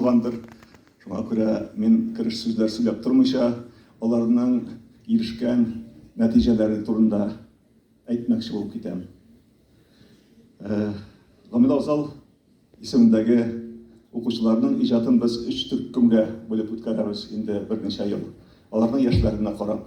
булгандыр. Шуңа күрә мин кереш сүзләр сөйләп тормыйча, аларның ирешкән нәтиҗәләре турында әйтмәкче булып китәм. Гамил Авзал исемендәге укучыларның иҗатын без өч төркемгә бүлеп үткәрәбез инде берничә ел, аларның яшьләренә карап.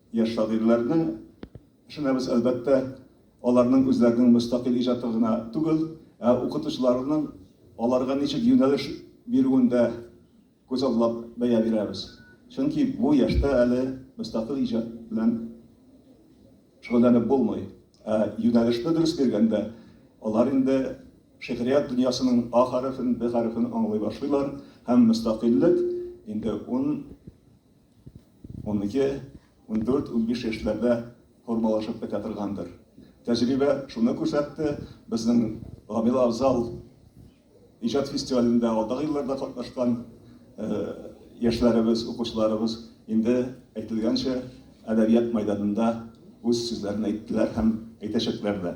Яшь шагыйрьләрне ышанабыз, әлбәттә, аларның үзләренең мөстәкыйль иҗаты гына түгел, ә укытучыларының аларга ничек юнәлеш бирүен дә күзаллап бәя бирәбез. Чөнки бу яшьтә әле мөстәкыйль иҗат белән шөгыльләнеп булмый. Ә юнәлешне дөрес биргәндә, алар инде шигърият дөньясының А хәрефен, Б хәрефен аңлый башлыйлар һәм мөстәкыйльлек инде ун Унике, ундүрт, унбиш яшьләрдә формалашып бетә торгандыр. Тәҗрибә шуны күрсәтте, безнең Гамил Авзал иҗат фестивалендә алдагы елларда катнашкан яшьләребез, укучыларыбыз инде әйтелгәнчә әдәбият мәйданында үз сүзләрен әйттеләр һәм әйтәчәкләр дә.